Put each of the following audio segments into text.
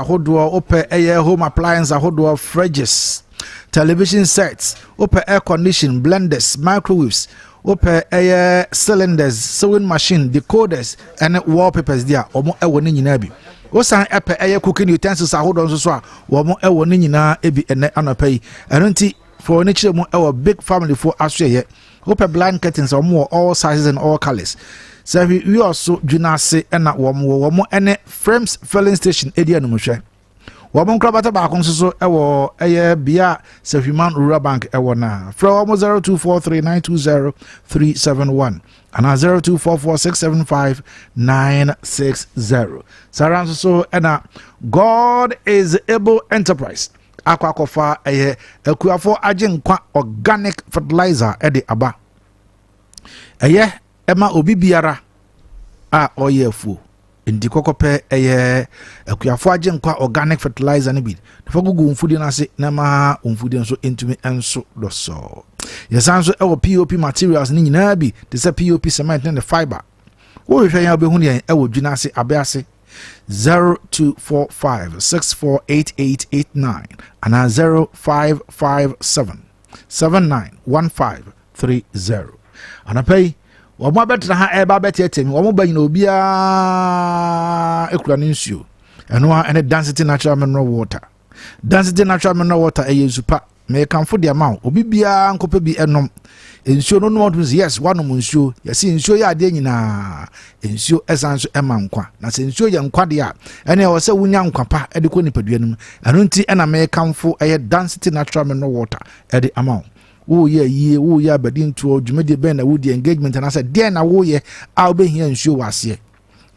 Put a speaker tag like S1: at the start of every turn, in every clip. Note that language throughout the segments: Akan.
S1: ahodoɔ wopɛ ɛyɛ home appliance ahodoɔ fridges television sets wopɛ air condition blenders microwaves wopɛ ɛyɛ cylinders sewing machine decoders ɛne wallpapers deɛ a wɔn ɛwɔ ne nyinaa bi wosan ɛpɛ ɛyɛ cooking utensils ahodoɔ nso so a wɔn ɛwɔ ne nyinaa bi ɛnɛ anɔpa yi ɛno nti fɔɔ ne kyerɛ mu ɛwɔ big family foɔ asoɛyɛ Wopɛ blind curtains a wɔn wɔ all sizes and all colours. Sɛ hwi wi ɔso dwina ase ɛna wɔn wɔ wɔn ɛne Frames filling station edi anum hwɛ. Wɔn nkorabata baako nso so ɛwɔ ɛyɛ bea a Sahwiman Rural Bank ɛwɔ na frɛ wɔn zero two four three nine two zero three seven one ana zero two four four six seven five nine six zero. Saa ara nso so ɛna God is able enterprise. akɔ akɔfa ɛyɛ akuafo agyenkwa organic fertilizer ɛde aba ɛyɛ ɛma obi biara a ɔyɛ afuo nti kɔkɔpɛ ɛyɛ akuafo agyenkwa organic fertilizer no bi nafa gugu wɔn mfudie no ase na ɛma wɔn mfudie nso ntumi nso dɔsɔɔ yɛsan nso ɛwɔ pop materials no nyinaa bi te sɛ pop cement ne ne fiber wohwehwɛ yɛn wobɛhu yɛn ɛwɔ dwina ase abɛ ase 0245 648889 anaa 0557 791530 anapa yi wɔn abɛtena ha ɛreba abɛteɛteɛ mi wɔn ba nyina obiara ekura ne nsuo ɛno ara ɛne dansity natural mineral water. Dansegye Natural Mineral Water ɛyɛ nsu pa. Mekamfo de ama wo. Obi biara nkɔpɛ bi ɛnom. Nsuo no nom ɔtumi sɛ yes wanom nsuo. Yɛsi nsuo yɛ adeɛ nyinaa. Nsuo ɛsan nso ɛma nkwa. Na sɛ nsuo yɛ nkwa deɛ a ɛne ɛwɔ sɛ wonya nkwa pa ɛde kɔ nipadua no mu. Ɛno nti ɛna mekamfo ɛyɛ Dansity Natural Mineral Water ɛde ama wo. Woyɛ ayie, woyɛ abadintoɔ, dwumadie bɛn na wodi, engagement anaasɛ deɛn na woyɛ a wobɛhia nsuo wɔ aseɛ.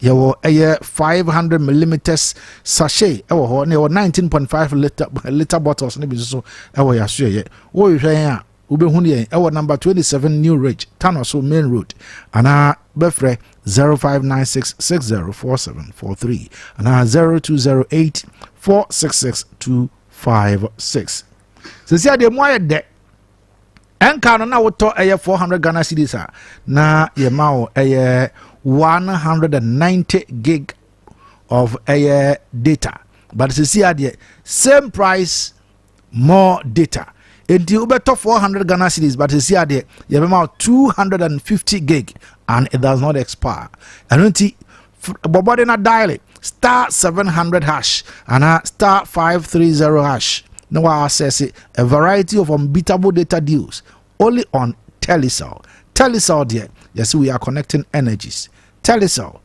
S1: yɛwɔ ɛyɛ five hundred millimeters sachet ɛwɔ hɔ na yɛwɔ nineteen point five liter liter bottles ne bi nso ɛwɔ yɛ aso yɛyɛ wɔrehwɛ yɛn a wobɛhu no yɛn ɛwɔ number twenty seven new ridge tano so main road anaa bɛfrɛ zero five nine six six zero four seven four three anaa zero two zero eight four six six two five six sisi adeɛ mu ayɛ dɛ. ɛnka no na wotɔ ɛyɛ four hundred ghana cedis a na yɛma wo ɛyɛ one hundred and ninety gig of ɛyɛ data but sisi adeɛ same price more data nti wobɛtɔ 400 ghana cities but ɛsi adeɛ yɛbɛma 250 gig and it does not expire ɛno nti bɔbɔde na dial star seven hundred hash ana star five three zero hash na wa access a variety of unbeatable data deals only on telecel telecel deɛ yɛsɛ we are connecting energies telecel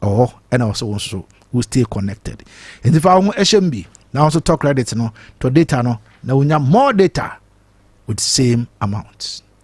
S1: ɛwɔ oh, ɛna ɔsɛ wɔn nso we stay connected nti fa ho ɛhyɛ mu bi na wɔn nso tɔ credit no tɔ data no na wonya more data with same amount.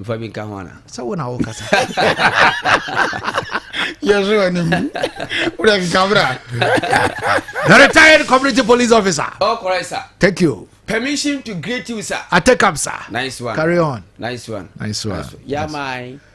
S2: mfa bi nka ho ana
S1: sɛ wo na wokasa
S3: yɛhwɛ anim wode keka bra
S1: the retired community police officer oh, correct, sir. thank
S2: you permission
S1: to greet
S2: you sir i take up sir nice
S1: one carry on
S2: nice one
S1: nice one,
S2: nice one. yeah
S1: nice. my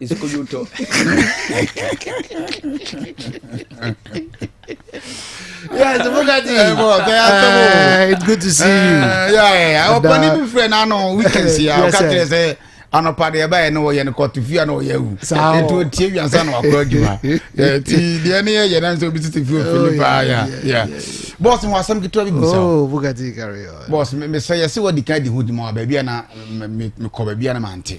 S1: Iskoyoto. yes, Bugatti. Hey, boy, okay, uh, it's good to see you. Uh, yeah, yeah, yeah. Our bunny
S3: be friend, I know we can see. I'll catch you say. anɔpa deɛ ɛbɛyɛ no wɔyɛ no kɔto fie a na ɔyɛ awu ɛnti ɔtie wiansa na wakɔ adwuma ti deɛ ne yɛyɛ na nso obi tete fie ofi ne paa ya ya bɔs mu asɛm ketewa bi busa
S1: oh, bɔs mesɛ yɛse
S3: wadi ka di ho di ma baabi a na mekɔ baabi a na mante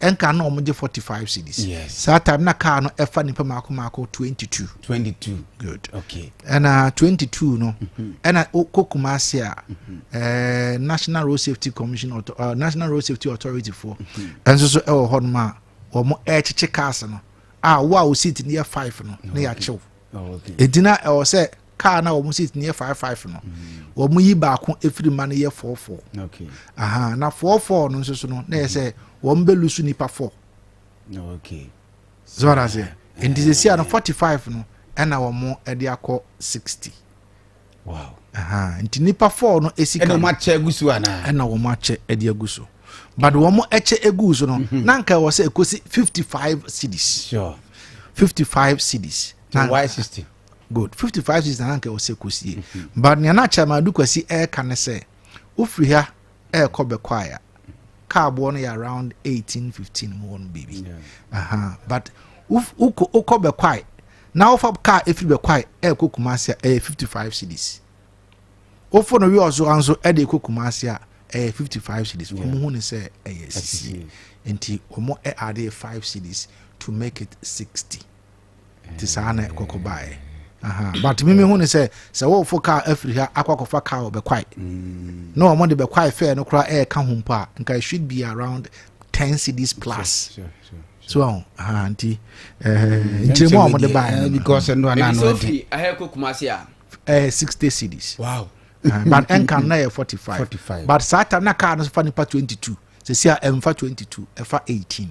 S1: ɛnka na wɔn gye forty five cedis yes. saa time na
S3: car no
S1: ɛfa nipa mako mako twenty two. twenty two good okay ɛna uh,
S3: twenty
S1: two no mm-hmm. ɛna kɔ kumase a mm-hmm. eh, national road safety commission auto, uh, national road safety authority fo mm-hmm. ɛnso so ɛwɔ hɔ nom a wɔn ɛrekyekye cars no a wo a o seat no yɛ five no ne yɛakyew ɛdina
S3: ɛwɔ sɛ
S1: kaa na wɔn seat no yɛ five five no mm. wɔn yi baako efiri ma no yɛ four four okay aha
S3: na four
S1: four no nso so no na yɛ sɛ wɔn bɛ lusu nipa four okay
S3: zɔɔra
S1: sɛ nti sɛ si ano forty five no ɛna wɔn ɛde akɔ sixty
S3: wow aha nti
S1: nipa four no esi kan ɛna wɔn akyɛ egu so ana
S3: ɛna wɔn akyɛ ɛde
S1: egu so but wɔn ɛkyɛ egu so no mhm. na nka ɛwɔ sɛ ekosi fifty five cities sure
S3: fifty five
S1: cities na y sixty.
S3: good fifty five
S1: season na nka ɛwɔ sɛ kɔsie but nea na chairman adu kwasi ɛreka ne sɛ wofiri ha ɛrekɔ bɛkɔ aya kaa boɔ no yɛ around eighteen fifteen mu hɔ no biribi aha but wokɔ wokɔ bɛkɔ ayi na wofa kaa efiri bɛkɔ ayi ɛrekɔ kumasi a ɛyɛ fifty five cities wofo no wi ɔso anso ɛde ekɔ kumasi a ɛyɛ fifty five cities wɔn ho ne sɛ ɛyɛ sisi nti wɔn ɛade five cities to make it sixty. nti saa na ɛkɔkɔ baeɛ aha but mimi hu ne sɛ sɛ wɔfo kaa afiri ha akɔ akɔfa kaa wɔ bɛkwae mm. na wɔn de bɛkwae fɛɛ no koraa ɛɛka ho mpo a nka it should be around ten cities plus so
S3: ɔn aha
S1: nti ɛɛ eh, mm. nkyirimu a wɔn de baeɛ no eh, because ɛnu anan no
S3: ɛdi ɛhɛ kɔ kumasi
S2: a ɛɛ eh, sixty
S1: cities wow but
S2: ɛnka
S1: na yɛ forty five but saa tam na kaa no fa nipa twenty two sɛ si a ɛnfa twenty two ɛfa eighteen.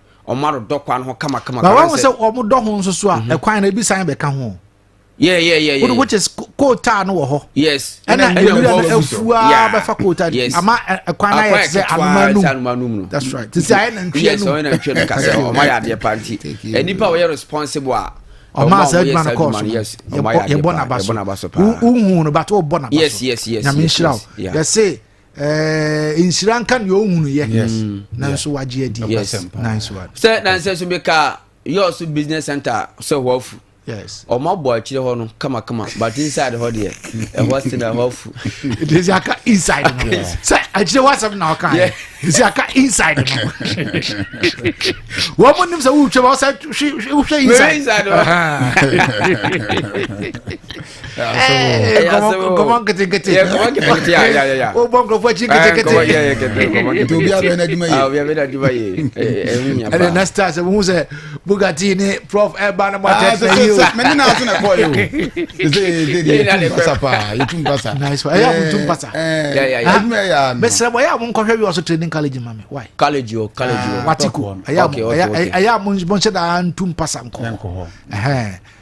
S2: ɔmo adodɔ
S1: kwan ho kama kama. na wɔn
S2: sɛ
S1: ɔmo dɔ ho nso so a mhm.
S2: ɛkwan
S1: no ebi san
S2: bɛka
S1: ho. Yeah, yeah,
S2: yeah, yeah. Which is
S1: kootaa no wɔ hɔ. Yes. Ɛna ewura
S2: no
S1: efua bɛfa kootaa no. Ama ɛkwan na yɛ sɛ anuma num. That's right. Sisi ayɛ na ntwia num. Yes, ɔyɛ na ntwia
S2: num kasa. Ɔmo ayɛ adeɛ panti. Nipa ɔyɛ responsible a ɔma asɛ
S1: adwuma no kɔɔ so yɛbɔ naba so wohu no bato wobɔ naba so nyame nhyira wo yɛse Eh, nhyira nka nea ɔhunuyɛ nanso wagye adi sɛ nansɛ so meka
S2: yɛɔ so business center sɛ hɔ afu ɔma bɔ
S1: akyire hɔ no
S2: kamakama but inside hɔ deɛ ɛhɔ se na ɛhɔ afu ɛsɛ aka
S1: inside no sɛ akyire hɔ asɛm na ɔka ɛsɛ aka inside no wɔn mu nim sɛ wotwa ma ɔsɛ wohwɛ inside nkɔmɔ nketenkete wobɔ nkurɔfoɔ akyi nketenkete
S3: obi abɛn no adwuma yɛde
S2: na star sɛ
S1: wohu sɛ bugati ne prof ɛba no mɔtɛmene
S3: na so na
S1: ɛkɔɔ yɛ mesrɛ mo ɛyɛ a monkɔhwɛ wi ɔso training college ma me college o college
S2: o watiko
S1: ɛyɛ a monhyɛ daa ntu mpasa nkɔ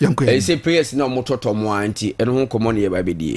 S2: ɛsɛ prayers na ɔmo tɔtɔ mo a nti ɛno ho nkɔmɔ na yɛba abɛdie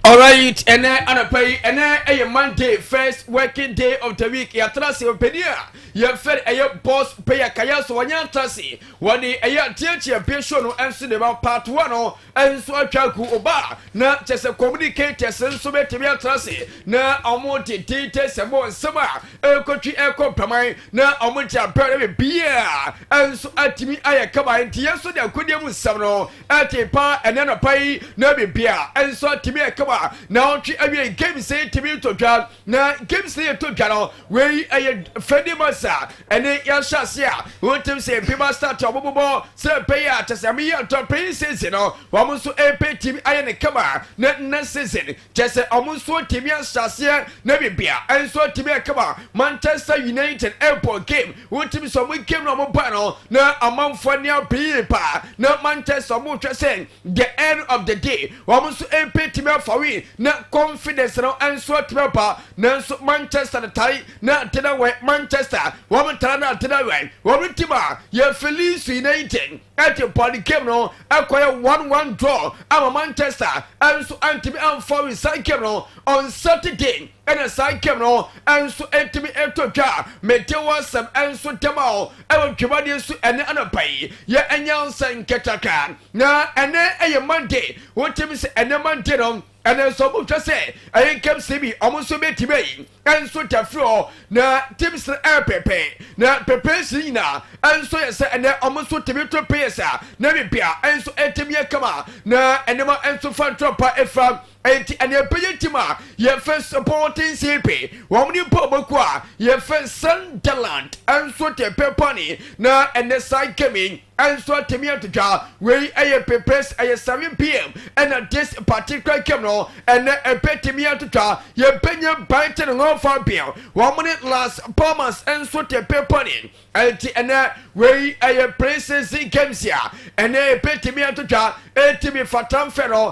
S1: alright
S2: ɛnɛ anapa yi ɛnɛ ɛyɛ monday first working day of the week yɛatra se ɔpɛni a yɛfɛ ɛyɛ boss pɛyɛ kaya so wɔnyɛ atra se wɔde ɛyɛ ateatia bɛsuo no ɛnso de ma part one no nso atwa agu oba na kyɛ sɛ communicators nso bɛtumi atena ase na wɔn de data sɛ mo nsɛm a ɛkɔtwi ɛkɔ mpaman na wɔn de abɛn na biribiara nso atumi ayɛ kama nti yɛn nso de akodie mu nsɛm no ɛte pa ɛnɛ nɔpa yi na biribiara nso atumi ɛkama na wɔtwe awie games yi tumi tɔ dwa na games no yɛtɔ dwa no Wei ɛyɛ fɛdi masa ɛne yɛahyɛase a wontem sɛ mpe ba start a wɔbobɔ sɛ pɛyɛ a kyɛ sɛ meyɛ ntɔ pɛyi season no wɔn nso ɛpɛ timi ayɛ ne kama ne nna season kyɛ sɛ wɔn nso timi ahyɛaseɛ na bibia nso timi ɛkama Manchester United ɛbɔ game wotim sɛ wɔn game no wɔn ba no na amanfoɔ ne apɛyi paa na Manchester wɔn hwɛ sɛ the end of the day wɔn nso ɛpɛ timi afa win na confidence no nso timi apa Nanso Manchester no tae na tena wɛ Manchester wɔn tara na tena wɛ wɔn tim a yɛfiri Leeds United ɛte Paul Game no ɛkɔyɛ one one draw ama Manchester ɛnso ɛntumi ɛmfa win saa game no on Saturday ɛna saa game no ɛnso ɛtumi ɛtɔ twa mete wɔsɛm ɛnso tɛm a ɛwɔ dwumadie so ɛne anɔpa yi yɛ ɛnyɛ nsɛ nkɛtaka na ɛne ɛyɛ Monday wotumi sɛ ɛne Monday no Ɛna nso ɔmo hwɛ sɛ ɛyɛ nkɛmsɛ bi ɔmo nso bɛtim ayi ɛnso tafiri hɔ na tim srɛ ɛyɛ pɛpɛ na pɛpɛ nsi nyina ɛnso yɛ sɛ ɛnɛ ɔmo nso timi to pɛyɛ sa na bibia ɛnso ɛtim yɛ kama na ɛnɛma ɛnso fa ntorɔ pa ɛfira ɛnti ɛna ɛpɛyɛ tim a yɛfɛ supporting sipi wɔn ne mpa ɔbɔku a yɛfɛ sunderland ɛnso tɛ pɛpani na ɛnɛ saa nkɛmi Ɛnso atumi atwitwa wei ɛyɛ pepes ɛyɛ 7pm ɛna this particular game no ɛnɛ ɛbɛtumi atwitwa yɛbɛnya Brighton Hove Albion wɔn ne Las Palmas ɛnso tepe pɔne ɛnti ɛnɛ wei ɛyɛ pre-season games a ɛnɛ ɛbɛtumi atwitwa ɛtumi fata mfɛ no